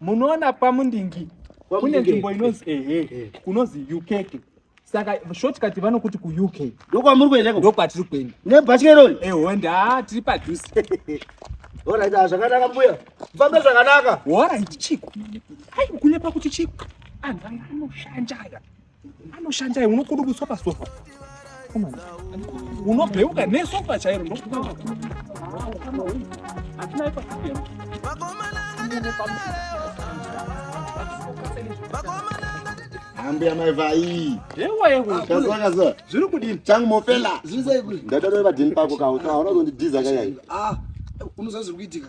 munoona pamundingi kune nzvimbo inonzi ehe eh, eh. kunonzi ukeke saka shortcut vanokuti kuuk ndokwamuri kuendeko ndokwatiri kuenda nebhatya irori ehonde eh, ha tiri padhuze orit ah, zvakanaka mbuya mfambe zvakanaka orit chiko hai kunyepa kuti chiko anhu ah, anoshanja aya anoshandai unokudubutswa pasofa unobheuka nesofa chairo ambuya mai vai kazakaza zviri kudini changu mofela zvirisai kuti ndadadovadini pako kawo kaona kundidhiza kayai ah, unoziva zviri kuitika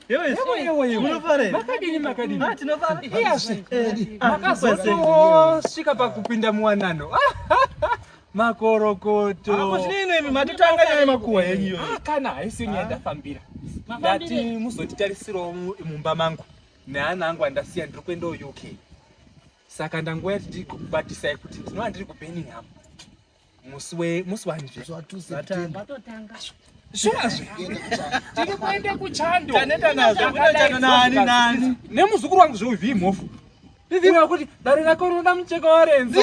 makazotosvika pakupinda muwanano makorokoto kana haisi nyaya ndafambira ndati muzonditarisirawo mumba mangu neana angu andasiya ndiri kuenda uk saka ndanguva yati ndiri kukubatisai kuti ndinova ndiri kubeningham musi we musi wanje musi wa 2 September vatotanga zvazve tiri kuenda kuchando taneta nazvo kunochando nani nani nemuzukuru wangu zve uvi mhofu Ndizima kuti dare rako rinoda mucheka warenzo.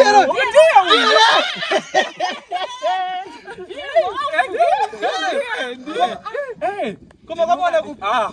Koma kwabona ku ah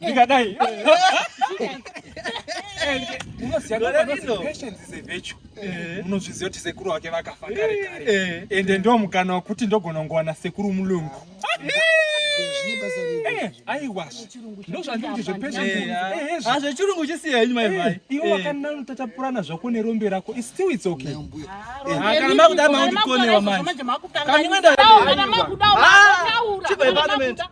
ndikadai munozviziva kuti sekuru wake vakafa kare kare eh. ende ndo mukana wekuti ndogona kungowana sekuru mulungu eh, aiwa ndozvanditi zvepezvechirungu chisiya henyu mai vai iwe wakanano tatapurana zvako nerombe rako still its okay kana makuda maundikonewa manje kana makuda makuda